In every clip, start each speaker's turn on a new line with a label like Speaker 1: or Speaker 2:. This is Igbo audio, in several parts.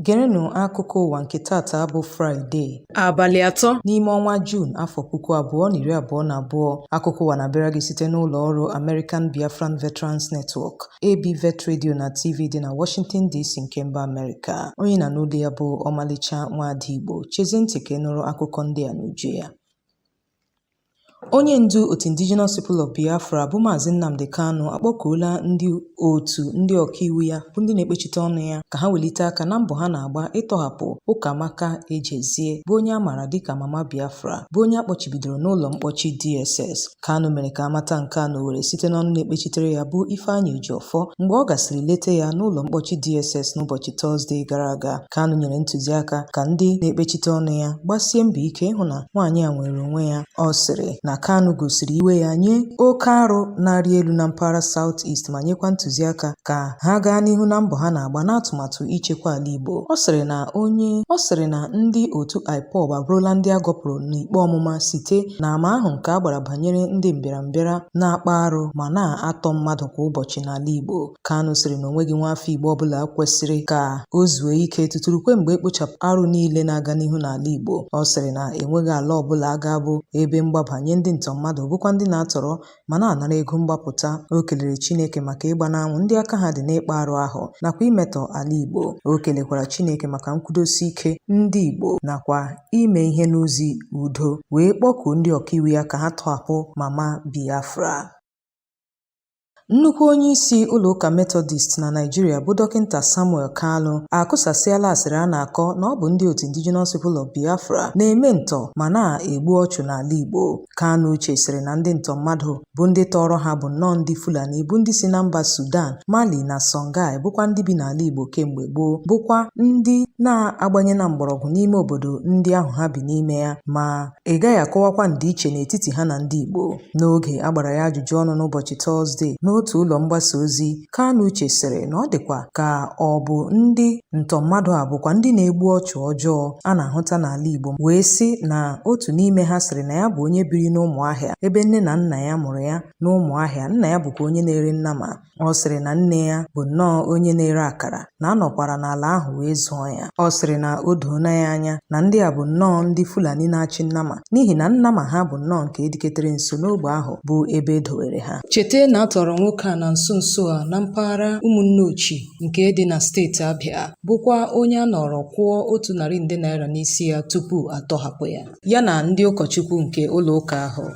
Speaker 1: Gerenụ akụkọ ụwa nke taata bụ Fraịde abalị atọ n'ime ọnwa Juun afọ puku abụọ na iri abụọ na abụọ akụkọ ụwa na-abịara gị site n'ụlọ ọrụ American Biafran Veterans Network ABVET Radio na TV dị na Washington DC nke mba Amerịka onye ị na-anụ olu ya bụ ọmalịcha nwaada Igbo chezie ntị ka ị nụrụ akụkọ ndị a n'uju ya Onye ndu otu Indigenous People of Biafra bụ Maazị Nnamdi Kanu akpọkuola ndị otu ndị ọkaiwu ya bụ ndị na-ekpechite ọnụ ya ka ha welite aka na mbọ ha na-agba ịtọhapụ Ụkamaka Ejezie bụ onye a maara dịka Mama Biafra bụ onye a kpọchibidoro n'ụlọ mkpọchi DSS. Kanu mere ka a mata nke a n'Owerri site n'ọnụ na-ekpechitere ya bụ Ifeanyi Ejiofor mgbe ọ gasịrị leta ya n'ụlọ mkpọchi DSS n'ụbọchị Tọzde gara aga. Kanu nyere ntụziaka ka ndị na-ekpechite ọnụ ya gbasie mbọ ike ịhụ na nwaanyị a nwere onwe ya. Ọ sịrị na Kanu gosiri iwe ya nye oke arụ na-arị elu na mpaghara South East ma nyekwa ntụziaka ka ha gaa n'ihu na mbọ ha na-agba n'atụmatụ ichekwa ala Igbo. Ọ sịrị na onye ọ sịrị na ndị otu IPOB abụrụla ndị a gọpụrụ n'ikpe ọmụma site n'ama ahụ nke a gbara banyere ndị mbịarambịara na-akpa arụ ma na-atọ mmadụ kwa ụbọchị n'ala Igbo. Kanu sịrị na o nweghị nwaafọ Igbo ọbụla kwesịrị ka o zuo ike tutu rukwe mgbe e kpochapụ arụ niile na-aga n'ihu n'ala Igbo. Ọ sịrị na enweghị ala ọbụla ga-abụ ebe mgbaba nye ndị ntọ mmadụ bụkwa ndị na-atọrọ ma na-anara ego mgbapụta. O kelere Chineke maka ịgba n'anwụ ndị aka ha dị n'ịkpa arụ ahụ nakwa imetọ ala Igbo. O kelekwara Chineke maka nkwudosi ike ndị Igbo nakwa ime ihe n'ụzọ udo wee kpọkuo ndị ọkaiwu ya ka ha tọhapụ Mama Biafra. Nnukwu onye isi ụlọ ụka Metọdist na Naịjirịa bụ Dọkịnta Samuel Kalu akụsasịala asịrị a na-akọ na ọ bụ ndị otu Indigenous People of Biafra na-eme ntọ ma na-egbu ọchụ n'ala Igbo. Kanu Uche sịrị na ndị ntọ mmadụ bụ ndị tọọrọ ha bụ nnọọ ndị Fulani bụ ndị si na mba Sudan, Mali na Songhai bụkwa ndị bi n'ala Igbo kemgbe gboo bụkwa ndị na-agbanye na mgbọrọgwụ n'ime obodo ndị ahụ ha bi n'ime ya ma ị gaghị akọwakwa ndịiche n'etiti ha na ndị Igbo. N'oge a gbara ya ajụjụ ọnụ n'ụbọchị Tọzde n'otu ụlọ mgbasa ozi, Kanu Uche sịrị na ọ dịkwa ka ọ bụ ndị ntọ mmadụ a bụkwa ndị na-egbu ọchụ ọjọọ a na-ahụta n'ala Igbo wee sị na otu n'ime ha sịrị na ya bụ onye biri n'Ụmụahịa ebe nne na nna ya mụrụ ya n'Ụmụahịa, nna ya bụkwa onye na-ere nnama Ọ sịrị na nne ya bụ nnọọ onye na-ere akara na a nọkwara n'ala ahụ wee zụọ ya. Ọ sịrị na o doona ya anya na ndị a bụ nnọọ ndị Fulani na-achị nnama n'ihi na nnama ha bụ nnọọ nke ediketere nso n'ogbe ahụ bụ ebe e dowere ha. Cheta na a tọrọ nwoke a na nso nso a na mpaghara Ụmụnneochi nke dị na steeti Abịa bụkwa onye a nọrọ kwụọ otu narị nde naira n'isi ya tupu a tọhapụ ya, ya na ndị ụkọchukwu nke ụlọụka ahụ.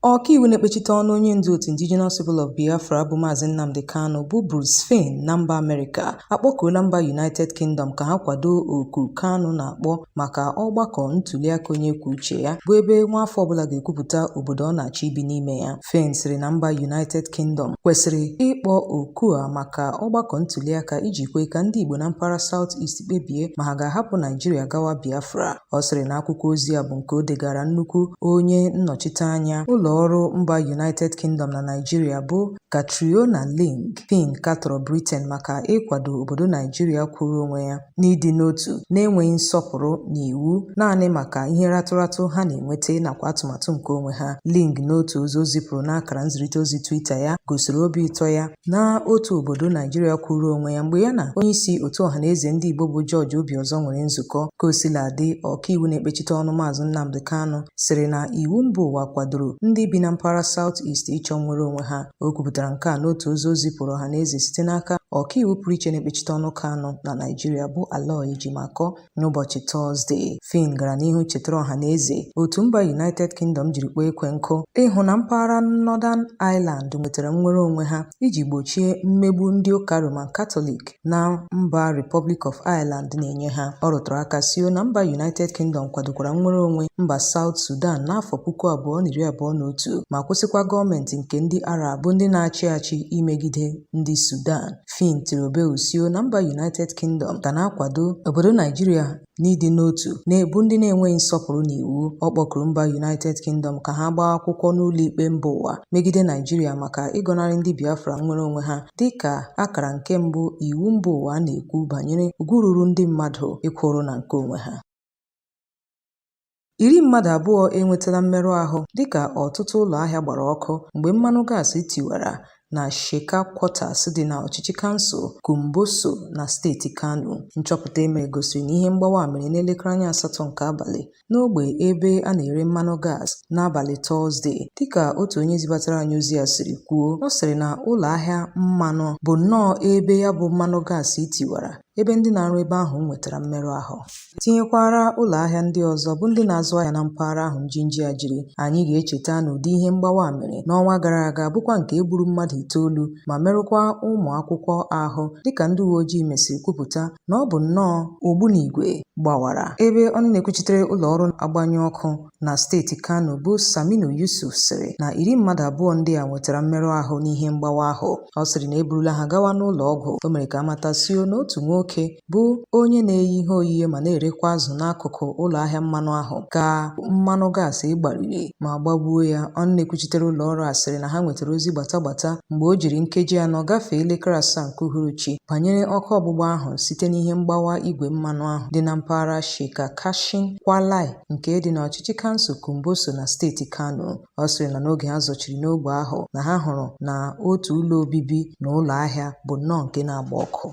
Speaker 1: Ọkaiwu na-ekpechite ọnụ onye ndu otu Indigenous People of Biafra bụ Maazị Nnamdi Kanu bụ Bruce Fein na mba Amerịka akpọkuola mba United Kingdom ka ha kwado oku Kanu na-akpọ maka ọgbakọ ntuliaka onye kwuo uche ya bụ ebe nwaafọ ọbụla ga-ekwupụta obodo ọ na-achọ ibi n'ime ya. Fein sịrị na mba United Kingdom kwesịrị ịkpọ oku a maka ọgbakọ ntuliaka iji kwe ka ndị Igbo na mpaghara South East kpebie ma ha ga-ahapụ Naijiria gawa Biafra. Ọ sịrị na akwụkwọ ozi a bụ nke o degara nnukwu onye nnọchite anya ụlọ ọrụ mba United Kingdom na Naịjirịa bụ Catriona Laing. Fein katọrọ Britain maka ịkwado obodo Naijiria kwụrụ onwe ya n'ịdị n'otu na-enweghị nsọpụrụ n'iwu naanị maka ihe ratụratụ ha na-enweta nakwa atụmatụ nke onwe ha. Laing n'otu ozi o zipụrụ n'akara nzirịta ozi Twitter ya gosiri obi ụtọ ya na otu obodo Naijiria kwụụrụ onwe ya mgbe ya na onyeisi otu Ọhaneze Ndị Igbo bụ George Obiọzọ nwere nzukọ. Ka o sila dị ọkaiwu na-ekpechite ọnụ Maazị Nnamdi Kanu sịrị na iwu mba ụwa kwadoro ndị bi na mpaghara South East ịchọ nnwere onwe ha. O kwupụtara nke a n'otu ozi o zipụrụ ọhaneze site n'aka ọkaiwu pụrụ iche na-ekpechite ọnụ Kanu na Naijiria bụ Aloy Ejimakor N'ụbọchị Tọzde, Fein gara n'ihu chetara ọha na eze otu mba United Kingdom jiri kpọọ ekwe nkụ ịhụ na mpaghara Northern Ireland nwetara nnwere onwe ha iji gbochie mmegbu ndị ụka Roman Katọlik na mba Republic of Ireland na-enye ha. Ọ rụtụrụ aka sio na mba United Kingdom kwadokwara nnwere onwe mba South Sudan n'afọ puku abụọ na iri abụọ na otu ma kwụsịkwa gọọmenti nke ndị Arab bụ ndị na-achị achị imegide ndị Sudan. Fein tiri obe usio na mba United Kingdom ga na-akwado obodo Naijiria n'ịdị n'otu na-ebu ndị na-enweghị nsọpụrụ n'iwu. Ọ kpọkuru mba United Kingdom ka ha gbaa akwụkwọ n'ụlọikpe mba ụwa megide Naijiria maka ịgọnarị ndị Biafra nnwere onwe ha dị ka akara nke mbụ iwu mba ụwa na-ekwu banyere ugwu ruru ndị mmadụ ịkwụrụ na nke onwe ha Iri mmadụ abụọ enwetala mmerụ ahụ dịka ọtụtụ ụlọ ahịa gbara ọkụ mgbe mmanụ gas tiwara na Sheka Quarters dị na ọchịchị kansụl Kumbotso na steeti Kano. Nchọpụta e mere gosiri na ihe mgbawa a mere n'elekere anya asatọ nke abalị n'ogbe ebe a na-ere mmanụ gas n'abalị Tọzde. Dịka otu onye zibatara anyị ozi a siri kwuo, ọ sịrị na ụlọ ahịa mmanụ bụ nnọọ ebe ya bụ mmanụ gas tiwara ebe ndị na-arụ ebe ahụ nwetara mmerụ ahụ tinyekwara ụlọ ahịa ndị ọzọ bụ ndị na-azụ ahịa na mpaghara ahụ njinji a jiri anyị ga-echeta na ụdị ihe mgbawa a mere n'ọnwa gara aga bụkwa nke e gburu mmadụ itoolu ma merụkwa ụmụ akwụkwọ ahụ dịka ndị uwe ojii mesịrị kwupụta na ọ bụ nnọọ ogbunigwe gbawara ebe ọnụ na-ekwuchitere ụlọ ọrụ agbanyụ ọkụ na steeti Kano bụ Saminu Yusuf sịrị na iri mmadụ abụọ ndị a nwetara mmerụ ahụ n'ihe mgbawa ahụ ọ sịrị na e burula ha gawa n'ụlọ ọgwụ o mere ka a mata sio na otu nwoke bụ onye na-eyi ihe oyiye ma na-erekwa azụ n'akụkụ ụlọ ahịa mmanụ ahụ ka mmanụ gaasị gbariri ma gbagbuo ya ọnụ na-ekwuchitere ụlọ ọrụ a sịrị na ha nwetara ozi gbata gbata mgbe o jiri nkeji anọ gafee elekere asaa nke uhuruchi banyere ọkụ ọgbụgba ahụ site n'ihe mgbawa igwe mmanụ ahụ dị na mpaghara Sheka Kashin Kwalai nke dị n'ọchịchị kansụl Kumbotso na steeti Kano. Ọ sịrị na n'oge ha zọchiri n'ogbe ahụ na ha hụrụ na otu ụlọ obibi na ụlọ ahịa bụ nnọọ nke na-agba ọkụ.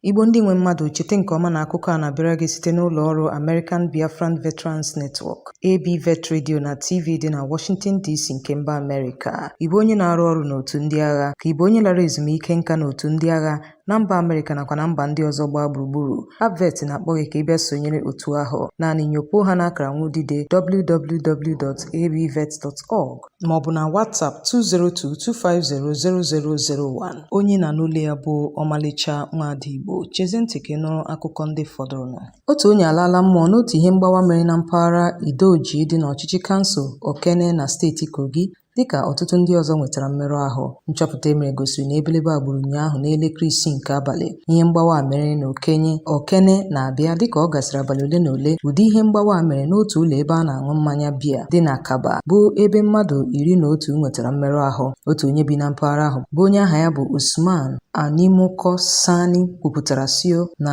Speaker 1: Igbo ndị nwe mmadụ chete nke ọma na akụkọ a na-abịara gị site n'ụlọ ọrụ American Biafran Veterans Network, ABVET Radio na TV dị na Washington DC nke mba Amerịka. Ị bụ onye na-arụ ọrụ n'otu ndị agha? Ka ị bụ onye lara ezumike nka n'otu ndị agha na mba Amerịka nakwa na mba ndị ọzọ gbaa gburugburu ABVET na-akpọ gị ka ị bịa sonyere otu ahụ naanị nyopuo ha n'akara nwudide www.abvet.org ma ọ bụ na WhatsApp 202-250-0001 onye ị na-anụ olu ya bụ ọmalịcha nwaada Igbo chezie ntị ka ị nụrụ akụkọ ndị fọdụrụnụ otu onye alaala mmụọ n'otu ihe mgbawa mere na mpaghara Idoji dị n'ọchịchị kansụl Okene na steeti Kogi Dịka ọtụtụ ndị ọzọ nwetara mmerụ ahụ, nchọpụta e mere gosiri na ebelebe a gburu ụnyaahụ n'elekere isii nke abalị. Ihe mgbawa a mere na Okenye Okene na-abịa dịka ọ gasịrị abalị ole na ole ụdị ihe mgbawa a mere n'otu ụlọ ebe a na-aṅụ mmanya biya dị na Kabba bụ ebe mmadụ iri na otu nwetara mmerụ ahụ. Otu onye bi na mpaghara ahụ bụ onye aha ya bụ Usman Animuko Sani kwupụtara sio na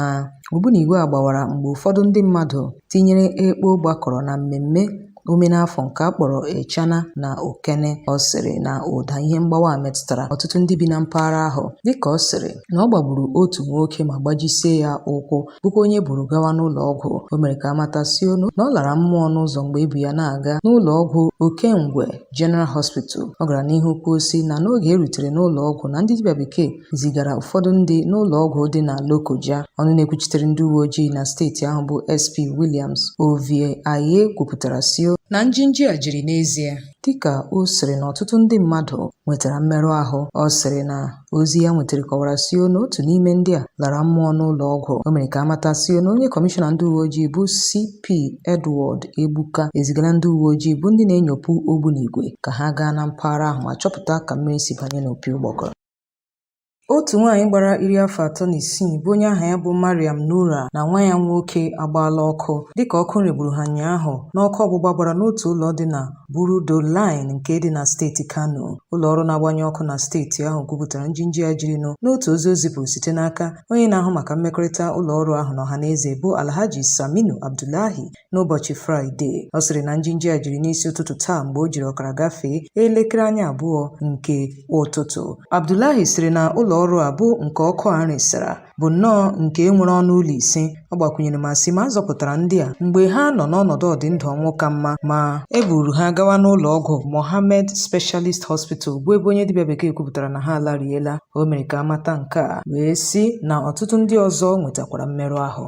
Speaker 1: ogbunigwe a gbawara mgbe ụfọdụ ndị mmadụ tinyere ekpo gbakọrọ na mmemme ome n'afọ nke a kpọrọ Echana na Okene ọ sịrị na ụda ihe mgbawa a metụtara ọtụtụ ndị bi na mpaghara ahụ dịka ọ sịrị na ọ gbagburu otu nwoke ma gbajisie ya ụkwụ bụkwa onye e buru gawa n'ụlọ ọgwụ o mere ka a mata sio na ọ lara mmụọ n'ụzọ mgbe e bu ya na-aga n'ụlọ ọgwụ Okengwe General Hospital ọ gara n'ihu kwuo sị na n'oge e rutere n'ụlọ ọgwụ na ndị dibịa bekee zigara ụfọdụ ndị n'ụlọ ọgwụ dị na Lokoja. Ọnụ na-ekwuchitere ndị uwe ojii na steeti ahụ bụ SP Williams Ovie Aye kwupụtara sio na njinji a jiri n'ezie dịka ọ sịrị na ọtụtụ ndị mmadụ nwetara mmerụ ahụ ọ sịrị na ozi ya nwetara kọwara sio na otu n'ime ndị a lara mmụọ n'ụlọ ọgwụ o mere ka a mata sio na onye kọmishọna ndị uwe ojii bụ CP Edward Egbuka ezigala ndị uwe ojii bụ ndị na-enyopụ ogbunigwe ka ha gaa na mpaghara ahụ ma chọpụta ka mmiri si banye n'opi ụgbọgọrọ Otu nwaanyị gbara iri afọ atọ na isii bụ onye aha ya bụ Mariam Nura na nwa ya nwoke agbaala ọkụ dịka ọkụ regburu ha ụnyaahụ n'ọkụ ọgbụgba gbara n'otu ụlọ dị na Burudo Line nke dị na steeti Kano. Ụlọ ọrụ na-agbanyụ ọkụ na steeti ahụ kwupụtara njinji a jirinụ n'otu ozi o zipụrụ site n'aka onye na-ahụ maka mmekọrịta ụlọ ọrụ ahụ na ọhaneze bụ Alhaji Saminu Abdullahi n'ụbọchị Fraịde. Ọ sịrị na njinji a jiri n'isi ụtụtụ taa mgbe o jiri ọkara gafee elekere anya abụọ nke ụtụtụ. Abdullahi sịrị na ụlọ ọrụ a bụ nke ọkụ a resara bụ nnọọ nke e nwere ọnụ ụlọ ise. Ọ gbakwunyere ma sị ma a zọpụtara ndị a mgbe ha nọ n'ọnọdụ ọdịndụ ọnwụ ka mma ma e buru ha gawa n'ụlọ ọgwụ Mohammed Specialist Hospital bụ ebe onye dibịa bekee kwupụtara na ha alariela. O mere ka a mata nke a wee sị na ọtụtụ ndị ọzọ nwetakwara mmerụ ahụ.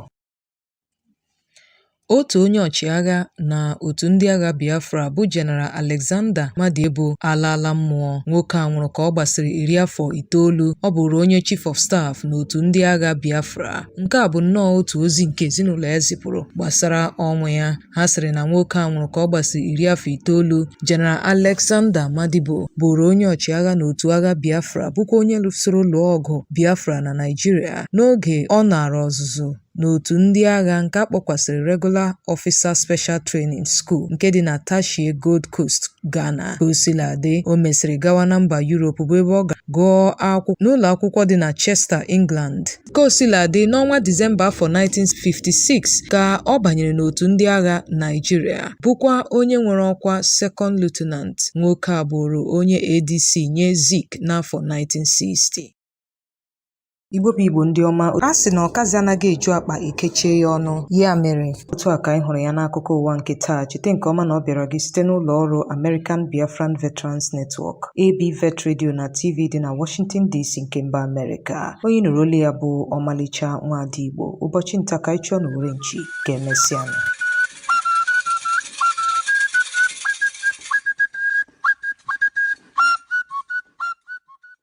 Speaker 1: otu onye ọchịagha na otu ndị agha Biafra bụ General Alexander Madiebo alaala mmụọ nwoke a nwụrụ ka ọ gbasịrị iri afọ itoolu ọ bụrụ onye chief of staff n'otu ndị agha Biafra nke a bụ nnọọ otu ozi nke ezinụlọ ya zipụrụ gbasara ọnwụ ya ha sịrị na nwoke a nwụrụ ka ọ gbasịrị iri afọ itoolu General Alexander Madiebo bụụrụ onye ọchịagha n'otu agha Biafra bụkwa onye lụsoro lụọ ọgụ Biafra na Naịjirịa n'oge ọ naara ọzụzụ n'otu ndị agha nke a kpọkwasịrị Regular Officer Special Training School nke dị na Teshie, Gold Coast, Ghana. Ka o sila dị, o mesịrị gawa na mba Yurop bụ ebe ọ gara gụọ akwụkwọ n'ụlọ akwụkwọ dị na Chester, England. Ka o sila dị, n'ọnwa Disemba afọ 1956 ka ọ banyere n'otu ndị agha Naịjirịa, bụkwa onye nwere ọkwa Second Lieutenant. Nwoke a bụụrụ onye ADC nye Zik n'afọ 1960. Igbo bụ Igbo ndị ọma, a sị na ọkazi anaghị eju akpa e kechie ya ọnụ. Ya mere, otu a ka anyị hụrụ ya n'akụkọ ụwa nke taa. Cheta nke ọma na ọ bịara gị site n'ụlọ ọrụ American Biafran Veterans Network, AB Vet Radio na TV dị na Washington DC nke mba Amerịka. Onye nụrụ olu ya bụ Ọmalịcha Nwaada Igbo. Ụbọchị nta ka anyị chụọ n'owere nchi ka e mesịa.